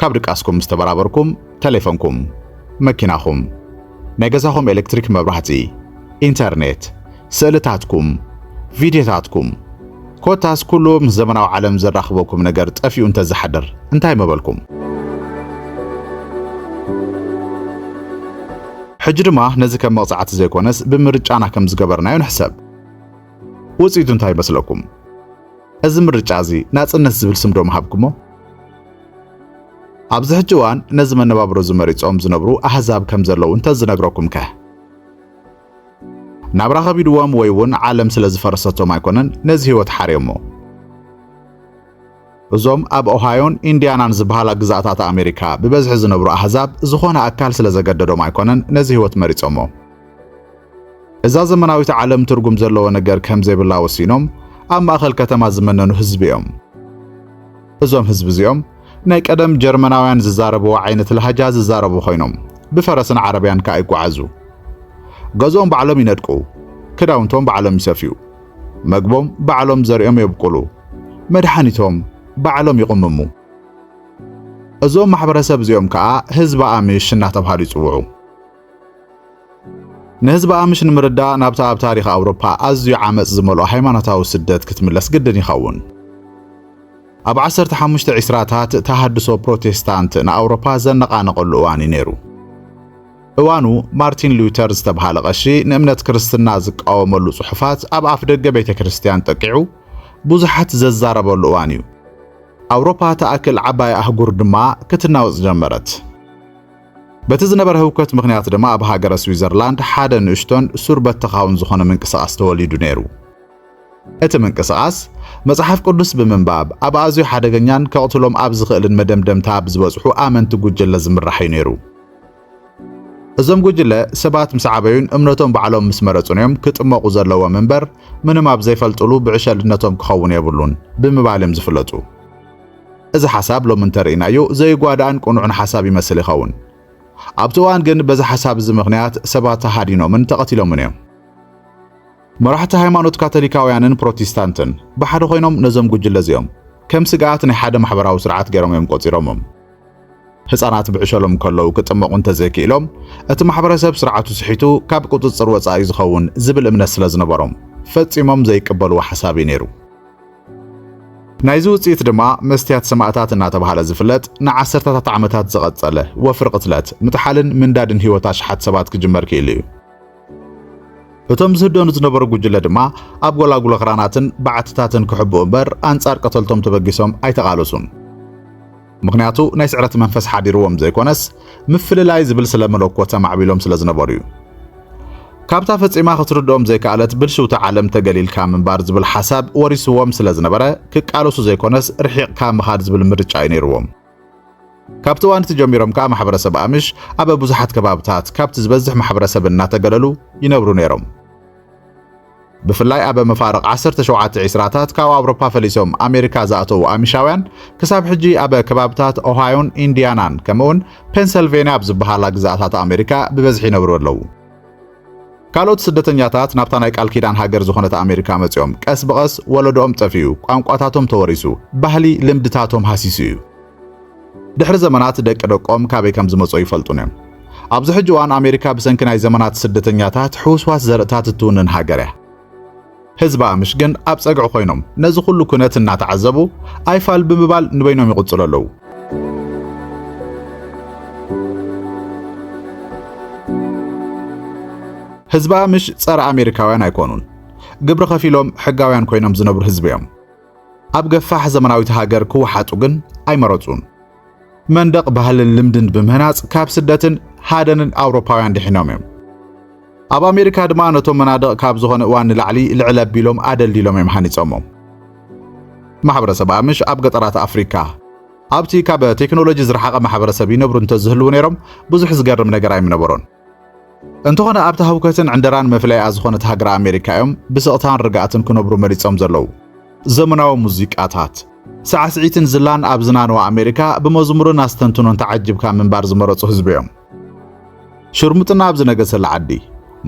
ካብ ድቃስኩም ምስ ተበራበርኩም ተሌፎንኩም፣ መኪናኹም፣ ናይ ገዛኹም ኤሌክትሪክ መብራህቲ፣ ኢንተርኔት፣ ስእልታትኩም፣ ቪድዮታትኩም ኮታስ ኩሉ ምስ ዘመናዊ ዓለም ዘራኽበኩም ነገር ጠፊኡ እንተዝሓድር እንታይ ምበልኩም? ሕጂ ድማ ነዚ ከም መቕጻዕቲ ዘይኮነስ ብምርጫና ከም ዝገበርናዮ ንሕሰብ። ውጽኢቱ እንታይ ይመስለኩም? እዚ ምርጫ እዚ ናጽነት ዝብል ስም ዶ ምሃብኩሞ? ኣብዚ ሕጂ እዋን ነዚ መነባብሮ እዚ መሪጾም ዝነብሩ ኣህዛብ ከም ዘለዉ እንተ ዝነግረኩም ከ? ናብራ ከቢድዎም ወይ እውን ዓለም ስለ ዝፈረሰቶም ኣይኮነን ነዚ ህይወት ሓርዮሞ። እዞም ኣብ ኦሃዮን ኢንድያናን ዝበሃላ ግዝኣታት ኣሜሪካ ብበዝሒ ዝነብሩ ኣህዛብ ዝኾነ ኣካል ስለ ዘገደዶም ኣይኮነን ነዚ ህይወት መሪጾሞ። እዛ ዘመናዊት ዓለም ትርጉም ዘለዎ ነገር ከም ዘይብላ ወሲኖም ኣብ ማእኸል ከተማ ዝመነኑ ህዝቢ እዮም። እዞም ህዝቢ እዚኦም ናይ ቀደም ጀርመናውያን ዝዛረብዎ ዓይነት ላህጃ ዝዛረቡ ኮይኖም ብፈረስን ዓረብያን ከኣ ይጓዓዙ። ገዝኦም ባዕሎም ይነድቁ፣ ክዳውንቶም ባዕሎም ይሰፍዩ። መግቦም ባዕሎም ዘርኦም የብቁሉ፣ መድሓኒቶም ባዕሎም ይቕምሙ። እዞም ማሕበረሰብ እዚኦም ከኣ ህዝቢ ኣምሽ እናተብሃሉ ይጽውዑ። ንህዝቢ ኣምሽ ንምርዳእ ናብታ ኣብ ታሪኽ ኣውሮፓ ኣዝዩ ዓመጽ ዝመልኦ ሃይማኖታዊ ስደት ክትምለስ ግድን ይኸውን። ኣብ ዓሰርተ ሓሙሽተ ዒስራታት ተሃድሶ ፕሮቴስታንት ንኣውሮፓ ዘነቓነቐሉ እዋን እዩ ነይሩ። እዋኑ ማርቲን ሉተር ዝተብሃለ ቐሺ ንእምነት ክርስትና ዝቃወመሉ ጽሑፋት ኣብ ኣፍ ደገ ቤተ ክርስቲያን ጠቂዑ ብዙሓት ዘዛረበሉ እዋን እዩ። ኣውሮፓ ተኣክል ዓባይ ኣህጉር ድማ ክትናወጽ ጀመረት። በቲ ዝነበረ ህውከት ምክንያት ድማ ኣብ ሃገረ ስዊዘርላንድ ሓደ ንእሽቶን ሱር በተኻውን ዝኾነ ምንቅስቓስ ተወሊዱ ነይሩ። እቲ ምንቅስቓስ መጽሓፍ ቅዱስ ብምንባብ ኣብ ኣዝዩ ሓደገኛን ከቕትሎም ኣብ ዝኽእልን መደምደምታ ኣብ ዝበጽሑ ኣመንቲ ጉጅለ ዝምራሕ እዩ ነይሩ። እዞም ጉጅለ ሰባት ምስ ዓበዩን እምነቶም ባዕሎም ምስ መረጹን እዮም ክጥመቑ ዘለዎም እምበር ምንም ኣብ ዘይፈልጥሉ ብዕሸልነቶም ክኸውን የብሉን ብምባል እዮም ዝፍለጡ። እዚ ሓሳብ ሎሚ እንተርኢናዮ ዘይጓዳእን ቅኑዕን ሓሳብ ይመስል ይኸውን። ኣብቲ እዋን ግን በዚ ሓሳብ እዚ ምኽንያት ሰባት ተሃዲኖምን ተቐቲሎምን እዮም። መራሕቲ ሃይማኖት ካቶሊካውያንን ፕሮቴስታንትን ብሓደ ኮይኖም ነዞም ጉጅለ እዚኦም ከም ስግኣት ናይ ሓደ ማሕበራዊ ስርዓት ገይሮም እዮም ቆጺሮሞም። ህጻናት ብዕሸሎም ከለዉ ክጥመቑ እንተዘይክኢሎም እቲ ማሕበረሰብ ስርዓቱ ስሒቱ ካብ ቁጽጽር ወጻኢ እዩ ዝኸውን ዝብል እምነት ስለ ዝነበሮም ፈጺሞም ዘይቅበልዎ ሓሳብ እዩ ነይሩ። ናይዚ ውጽኢት ድማ መስትያት ሰማእታት እናተባህለ ዝፍለጥ ንዓሰርተታት ዓመታት ዝቐጸለ ወፍሪ ቅትለት፣ ምጥሓልን ምንዳድን ህይወት ኣሽሓት ሰባት ክጅመር ክኢሉ እዩ። እቶም ዝህደኑ ዝነበሩ ጉጅለ ድማ ኣብ ጎላጉሎ ክራናትን በዓትታትን ክሕብኡ እምበር ኣንጻር ቀተልቶም ተበጊሶም ኣይተቓለሱን። ምኽንያቱ ናይ ስዕረት መንፈስ ሓዲርዎም ዘይኮነስ ምፍልላይ ዝብል ስለ መለኮት ኣማዕቢሎም ስለ ዝነበሩ እዩ። ካብታ ፈጺማ ክትርድኦም ዘይከኣለት ብልሽውቲ ዓለም ተገሊልካ ምንባር ዝብል ሓሳብ ወሪስዎም ስለ ዝነበረ ክቃለሱ ዘይኮነስ ርሒቕካ ምኻድ ዝብል ምርጫ እዩ ነይርዎም። ካብቲ እዋን እቲ ጀሚሮም ከኣ ማሕበረሰብ ኣምሽ ኣብ ብዙሓት ከባብታት ካብቲ ዝበዝሕ ማሕበረሰብ እናተገለሉ ይነብሩ ነይሮም። ብፍላይ ኣብ መፋርቕ ዓሰርተ ሸውዓተ ዒስራታት ካብ ኣውሮፓ ፈሊሶም ኣሜሪካ ዝኣተዉ ኣሚሻውያን ክሳብ ሕጂ ኣብ ከባብታት ኦሃዮን ኢንድያናን ከምኡውን ፔንሰልቬንያ ኣብ ዝበሃላ ግዝኣታት ኣሜሪካ ብበዝሒ ይነብሩ ኣለዉ። ካልኦት ስደተኛታት ናብታ ናይ ቃል ኪዳን ሃገር ዝኾነት ኣሜሪካ መጺኦም ቀስ ብቐስ ወለዶኦም ጠፊኡ፣ ቋንቋታቶም ተወሪሱ፣ ባህሊ ልምድታቶም ሃሲሱ እዩ። ድሕሪ ዘመናት ደቂ ደቆም ካበይ ከም ዝመጽኦ ይፈልጡን እዮም። ኣብዚ ሕጂ እዋን ኣሜሪካ ብሰንኪ ናይ ዘመናት ስደተኛታት ሕውስዋስ ዘርእታት እትውንን ሃገር እያ። ህዝቢ ኣምሽ ግን ኣብ ጸግዒ ኮይኖም ነዚ ኩሉ ኩነት እናተዓዘቡ ኣይፋል ብምባል ንበይኖም ይቕጽሉ ኣለዉ። ህዝቢ ኣምሽ ጸረ ኣሜሪካውያን ኣይኮኑን። ግብሪ ከፊሎም ሕጋውያን ኮይኖም ዝነብሩ ህዝቢ እዮም። ኣብ ገፋሕ ዘመናዊት ሃገር ክወሓጡ ግን ኣይመረጹን። መንደቕ ባህልን ልምድን ብምህናጽ ካብ ስደትን ሃደንን ኣውሮፓውያን ድሒኖም እዮም። ኣብ ኣሜሪካ ድማ ነቶም መናድቕ ካብ ዝኾነ እዋን ንላዕሊ ልዕል ኣቢሎም ኣደልዲሎም እዮም ሃኒጾሞም። ማሕበረሰብ ኣምሽ ኣብ ገጠራት ኣፍሪካ ኣብቲ ካብ ቴክኖሎጂ ዝረሓቐ ማሕበረሰብ ይነብሩ እንተዝህልው ነይሮም ብዙሕ ዝገርም ነገር ኣይምነበሮን። እንተኾነ ኣብታ ህውከትን ዕንደራን መፍለይኣ ዝኾነት ሃገር ኣሜሪካ እዮም ብስቕታን ርግኣትን ክነብሩ መሪጾም ዘለዉ። ዘመናዊ ሙዚቃታት፣ ሳዕስዒትን ዝላን ኣብ ዝናነዋ ኣሜሪካ ብመዝሙርን ኣስተንትኖን ተዓጅብካ ምንባር ዝመረጹ ህዝቢ እዮም። ሽርሙጥና ኣብ ዝነገሰላ ዓዲ፣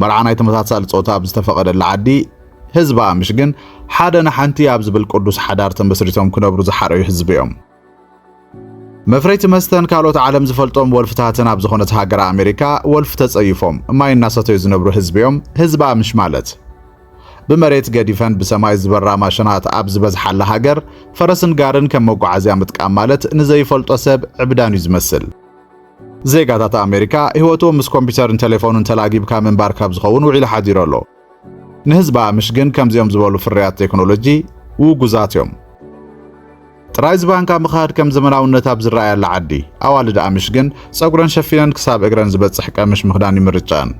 መርዓ ናይ ተመሳሳሊ ጾታ ኣብ ዝተፈቐደላ ዓዲ፣ ህዝባ ምሽግን ሓደ ንሓንቲ ኣብ ዝብል ቅዱስ ሓዳር ተመስሪቶም ክነብሩ ዝሓረዩ ህዝቢ እዮም። መፍረይቲ መስተን ካልኦት ዓለም ዝፈልጦም ወልፍታትን ኣብ ዝኾነት ሃገር ኣሜሪካ ወልፊ ተጸይፎም ማይ እናሰተዩ ዝነብሩ ህዝቢዮም ህዝባ ምሽ ማለት ብመሬት ገዲፈን ብሰማይ ዝበራ ማሽናት ኣብ ዝበዝሓላ ሃገር ፈረስን ጋርን ከም መጓዓዝያ ምጥቃም ማለት ንዘይፈልጦ ሰብ ዕብዳን እዩ ዝመስል። ዜጋታት ኣሜሪካ ህይወቶም ምስ ኮምፒውተርን ቴሌፎንን ተላጊብካ ምንባር ካብ ዝኸውን ውዒሉ ሓዲሩ ኣሎ። ንህዝባ ምሽ ግን ከምዚኦም ዝበሉ ፍርያት ቴክኖሎጂ ውጉዛት እዮም። ጥራይ ዝባንካ ምኻድ ከም ዘመናውነት ኣብ ዝረኣየላ ዓዲ ኣዋልድ ኣምሽ ግን ጸጉረን ሸፊነን ክሳብ እግረን ዝበጽሕ ቀምሽ ምኽዳን ይምርጫን።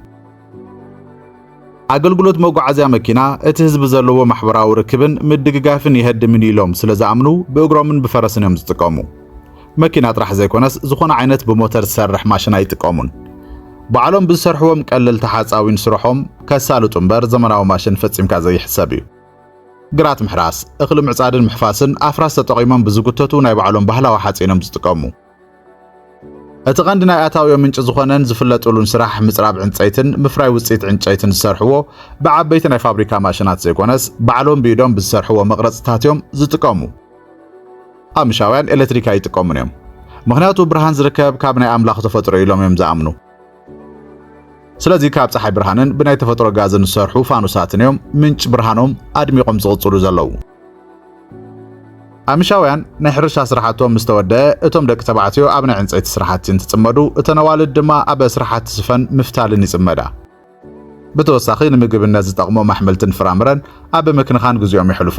ኣገልግሎት መጓዓዝያ መኪና እቲ ህዝቢ ዘለዎ ማሕበራዊ ርክብን ምድግጋፍን የህድምን ኢሎም ስለ ዝኣምኑ ብእግሮምን ብፈረስን እዮም ዝጥቀሙ። መኪና ጥራሕ ዘይኮነስ ዝኾነ ዓይነት ብሞተር ዝሰርሕ ማሽን ኣይጥቀሙን። ባዕሎም ብዝሰርሕዎም ቀለልቲ ሓፃዊን ስርሖም ከሳልጡ እምበር ዘመናዊ ማሽን ፈፂምካ ዘይሕሰብ እዩ። ግራት ምሕራስ፣ እኽሊ ምዕፃድን ምሕፋስን ኣፍራስ ተጠቒሞም ብዝጉተቱ ናይ ባዕሎም ባህላዊ ሓፂን እዮም ዝጥቀሙ። እቲ ቀንዲ ናይ ኣታዊኦም ምንጪ ዝኾነን ዝፍለጥሉን ስራሕ ምፅራብ ዕንፀይትን ምፍራይ ውፅኢት ዕንጨይትን ዝሰርሕዎ ብዓበይቲ ናይ ፋብሪካ ማሽናት ዘይኮነስ ባዕሎም ብኢዶም ብዝሰርሕዎ መቕረፅታት እዮም ዝጥቀሙ። ኣምሻውያን ኤለትሪክ ኣይጥቀሙን እዮም ምኽንያቱ ብርሃን ዝርከብ ካብ ናይ ኣምላኽ ተፈጥሮ እዩ ኢሎም እዮም ዝኣምኑ ስለዚ ካብ ፀሓይ ብርሃንን ብናይ ተፈጥሮ ጋዝን ዝሰርሑ ፋኑሳትን እዮም ምንጭ ብርሃኖም ኣድሚቖም ዝቕፅሉ ዘለዉ ኣምሻውያን ናይ ሕርሻ ስራሕቶም ምስ ተወደአ እቶም ደቂ ተባዕትዮ ኣብ ናይ ዕንፀይቲ ስራሕቲ እንትፅመዱ እተን ኣዋልድ ድማ ኣብ ስራሕቲ ስፈን ምፍታልን ይፅመዳ ብተወሳኺ ንምግብነት ዝጠቕሞም ኣሕምልትን ፍራምረን ኣብ ምክንኻን ግዜኦም የሕልፉ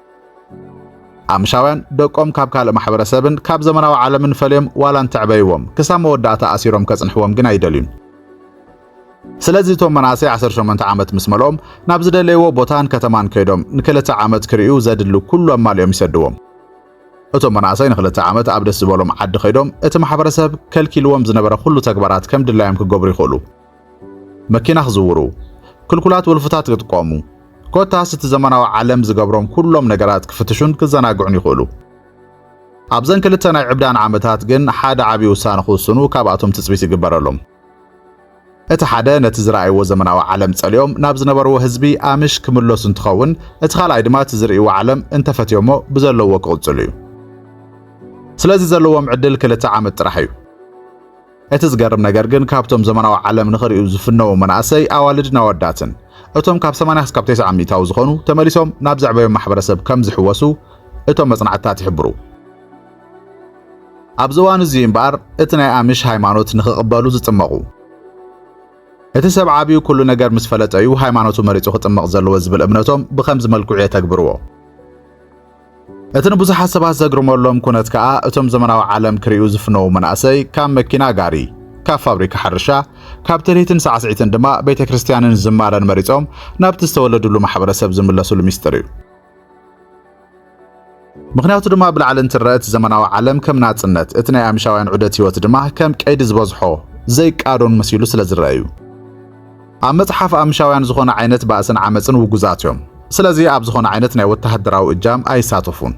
ኣምሻውያን ደቆም ካብ ካልእ ማሕበረሰብን ካብ ዘመናዊ ዓለምን ፈልዮም ዋላ እንተዕበይዎም ክሳብ መወዳእታ ኣሲሮም ከጽንሕዎም ግን ኣይደልዩን። ስለዚ እቶም መናእሰይ 18 ዓመት ምስ መልኦም ናብ ዝደለይዎ ቦታን ከተማን ከይዶም ንክልተ ዓመት ክርእዩ ዘድሊ ኩሉ ኣማሊኦም ይሰድዎም። እቶም መናእሰይ ንክልተ ዓመት ኣብ ደስ ዝበሎም ዓዲ ከይዶም እቲ ማሕበረሰብ ከልኪልዎም ዝነበረ ኩሉ ተግባራት ከም ድላዮም ክገብሩ ይኽእሉ። መኪና ክዝውሩ፣ ክልኩላት ወልፍታት ክጥቀሙ፣ ኮታስ እቲ ዘመናዊ ዓለም ዝገብሮም ኩሎም ነገራት ክፍትሹን ክዘናግዑን ይኽእሉ። ኣብዘን ክልተ ናይ ዕብዳን ዓመታት ግን ሓደ ዓቢ ውሳነ ክውስኑ ካብኣቶም ትጽቢት ይግበረሎም። እቲ ሓደ ነቲ ዝረኣይዎ ዘመናዊ ዓለም ጸሊኦም ናብ ዝነበርዎ ህዝቢ ኣምሽ ክምለሱ እንትኸውን፣ እቲ ካልኣይ ድማ እቲ ዝርእይዎ ዓለም እንተፈትዮሞ ብዘለውዎ ክቕጽሉ እዩ። ስለዚ ዘለዎም ዕድል ክልተ ዓመት ጥራሕ እዩ። እቲ ዝገርም ነገር ግን ካብቶም ዘመናዊ ዓለም ንኽሪኡ ዝፍነዉ መናእሰይ ኣዋልድን ኣወዳትን እቶም ካብ 80 ክሳብ 90 ሚእታዊ ዝኾኑ ተመሊሶም ናብ ዘዕበዮም ማሕበረሰብ ከም ዝሕወሱ እቶም መጽናዕትታት ይሕብሩ። ኣብዚ እዋን እዚ እምበኣር እቲ ናይ ኣሚሽ ሃይማኖት ንኽቕበሉ ዝጥመቑ እቲ ሰብ ዓብዩ ኩሉ ነገር ምስ ፈለጠ እዩ ሃይማኖቱ መሪጹ ክጥመቕ ዘለዎ ዝብል እምነቶም ብኸምዚ መልክዑ የተግብርዎ። እቲ ንብዙሓት ሰባት ዘግርመሎም ኩነት ከኣ እቶም ዘመናዊ ዓለም ክርእዩ ዝፍነዉ መናእሰይ ካብ መኪና ጋሪ ካብ ፋብሪካ ሕርሻ ካብ ትርኢትን ሳዕስዒትን ድማ ቤተ ክርስቲያንን ዝማረን መሪጾም ናብቲ ዝተወለድሉ ማሕበረሰብ ዝምለስሉ ሚስጥር እዩ። ምክንያቱ ድማ ብላዕሊ እንትረአ እቲ ዘመናዊ ዓለም ከም ናጽነት፣ እቲ ናይ ኣሚሻውያን ዑደት ህይወት ድማ ከም ቀይዲ ዝበዝሖ ዘይቃዶን መሲሉ ስለ ዝረአ እዩ። ኣብ መጽሓፍ ኣምሻውያን ዝኾነ ዓይነት ባእስን ዓመጽን ውጉዛት እዮም። ስለዚ ኣብ ዝኾነ ዓይነት ናይ ወተሃደራዊ እጃም ኣይሳተፉን።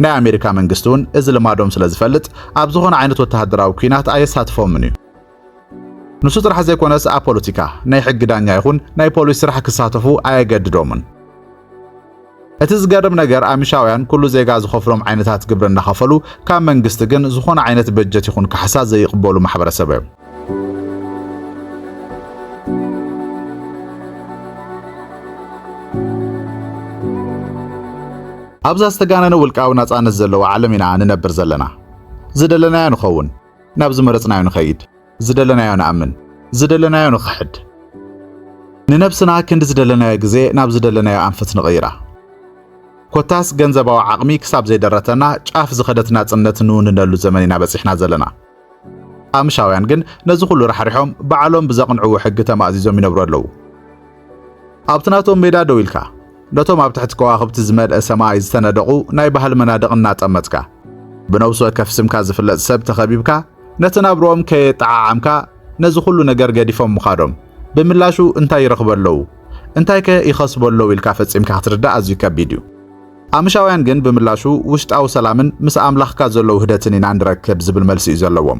ናይ ኣሜሪካ መንግስቲ እውን እዚ ልማዶም ስለ ዝፈልጥ ኣብ ዝኾነ ዓይነት ወተሃደራዊ ኲናት ኣየሳትፎምን እዩ። ንሱ ጥራሕ ዘይኮነስ ኣብ ፖለቲካ፣ ናይ ሕጊ ዳኛ ይኹን ናይ ፖሊስ ስራሕ ክሳተፉ ኣየገድዶምን። እቲ ዝገርም ነገር ኣሚሻውያን ኩሉ ዜጋ ዝኸፍሎም ዓይነታት ግብሪ እናኸፈሉ ካብ መንግስቲ ግን ዝኾነ ዓይነት በጀት ይኹን ካሕሳ ዘይቕበሉ ማሕበረሰብ እዮም። ኣብዛ ዝተጋነነ ውልቃዊ ናጻነት ዘለዋ ዓለም ኢና ንነብር ዘለና። ዝደለናዮ ንኸውን፣ ናብ ዝመረጽናዮ ንኸይድ። ዝደለናዮ ንኣምን፣ ዝደለናዮ ንኽሕድ። ንነብስና ክንዲ ዝደለናዮ ግዜ ናብ ዝደለናዮ ኣንፈት ንቕይራ። ኮታስ ገንዘባዊ ዓቕሚ ክሳብ ዘይደረተና ጫፍ ዝኸደት ናጽነት ንውንነሉ ዘመን ኢና በጺሕና ዘለና። ቃምሻውያን ግን ነዚ ኩሉ ራሕሪሖም ባዕሎም ብዘቕንዕዎ ሕጊ ተማእዚዞም ይነብሩ ኣለዉ። ኣብቲ ናቶም ሜዳ ደው ኢልካ ነቶም ኣብ ትሕቲ ከዋኽብቲ ዝመልአ ሰማይ ዝተነደቑ ናይ ባህሊ መናድቕ እናጠመትካ ብነብሲ ወከፍ ስምካ ዝፍለጥ ሰብ ተኸቢብካ ነቲ ናብርኦም ከየጠዓዓምካ ነዚ ኩሉ ነገር ገዲፎም ምኻዶም ብምላሹ እንታይ ይረኽቡ ኣለዉ እንታይ ከ ይኸስቡ ኣለዉ ኢልካ ፈጺምካ ክትርዳእ ኣዝዩ ከቢድ እዩ። ኣምሻውያን ግን ብምላሹ ውሽጣዊ ሰላምን ምስ ኣምላኽካ ዘሎ ውህደትን ኢና ንረክብ ዝብል መልሲ እዩ ዘለዎም።